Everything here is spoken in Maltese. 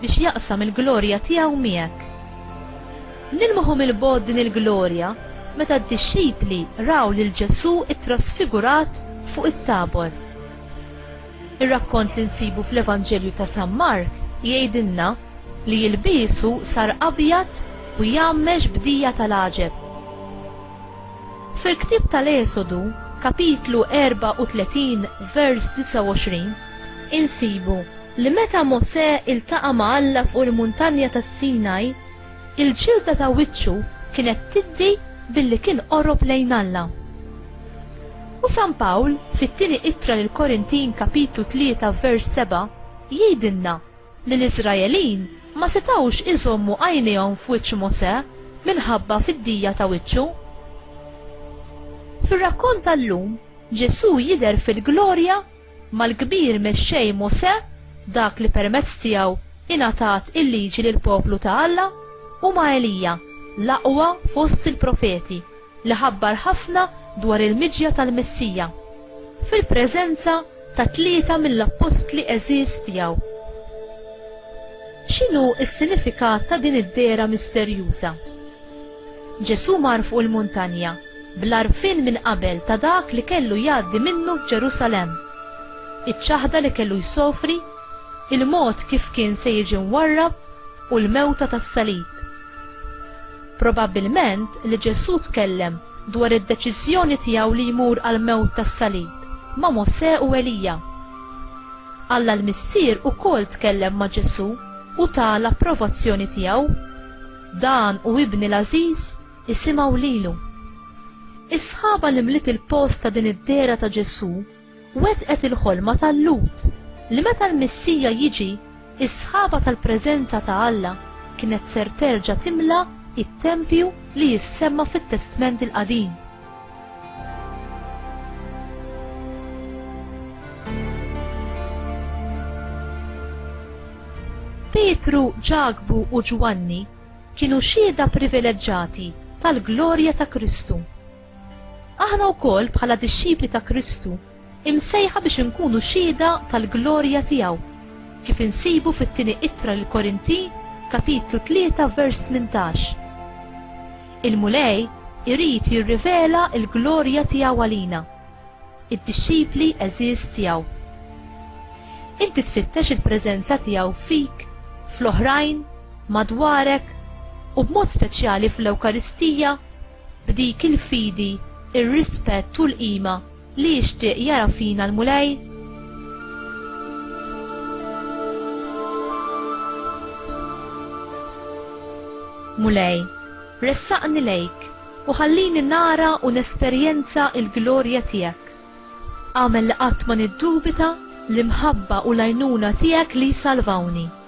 biex jaqsam il-glorja tiegħu miegħek. Nilmħu mill-bogħod din il-glorja meta d-dixxipli raw lil Ġesù ttrasfigurat fuq it-Tabor. Ir-rakkont li nsibu fl-Evanġelju ta' San Mark jgħidilna li ilbiesu sar abjad u jgħammex b'dija tal-għaġeb. Fil-ktieb tal-Esodu, kapitlu 34, vers 29, Insibu li meta Mosè iltaqa' ma' Alla fuq il-Muntanja tas-Sinaj, il-ġilda ta' wiċċu kienet tiddi billi kien qorob lejn Alla. U San Pawl, fit-Tieni Ittra lill-Korintin kapitlu tlieta vers seba', jgħidilna li l-Iżraelin ma setgħux iżommu għajnejhom f'wiċċ Mosè minħabba fiddija ta' wiċċu. Fir-rakkont tal-lum, Ġesù jidher fil-glorja Mal-kbir mexxej Mosè, dak li permezz tiegħu ingħatat il-Liġi lill-poplu ta' Alla, u ma' Elija, l-aqwa fost il-profeti, li ħabbar ħafna dwar il-miġja tal-Messija, fil-preżenza ta' tlieta mill-appostli għeżież tiegħu. X'inhu s-sinifikat ta' din id-dehra misterjuża? Ġesù mar fuq il-muntanja bl-għarfien minn qabel ta' dak li kellu jgħaddi minnu f'Ġerusalemm, iċ-ċaħda li kellu jsofri, il-mod kif kien se jiġi mwarrab u l-mewta tas-salib. Probabbilment li Ġesù tkellem dwar id-deċiżjoni tiegħu li jmur għall-mewt tas-salib ma' Mosè u Elija. Alla l-Missier ukoll tkellem ma' Ġesù u ta l-approvazzjoni tiegħu. Dan hu ibni l-għażiż, isimgħu lilu. Is-sħaba li mliet il-post ta' din id-dehra ta' Ġesù wettqet il-ħolma ta' Lut li meta l-Missija jiġi, is-sħaba tal-preżenza ta' Alla kienet ser terġa' timla t-tempju li jissemma fit-Testment il-Qadim. Pietru, Ġakbu u Ġwanni kienu xhieda privileġġati tal-glorja ta' Kristu. Aħna wkoll bħala dixxipli ta' Kristu Imsejħa biex inkunu xhieda tal-glorja tiegħu, kif insibu fit-Tieni Ittra lill-Korintin, kapitlu 3 vers 18. Il-Mulej irid jirrivela l-glorja tiegħu għalina, id-dixxipli għeżież tiegħu. Inti tfittex il-preżenza tiegħu fik, fl-oħrajn, madwarek u b'mod speċjali fl-Ewkaristija b'dik il-fidi, ir-rispett u l-qima Li jixtieq jara fina l-Mulej? Mulej, ressaqni lejk u ħallini nara u nesperjenza l-glorja tiegħek. Agħmel li qatt ma niddubita l-imħabba u l-għajnuna tiegħek li jsalvawni.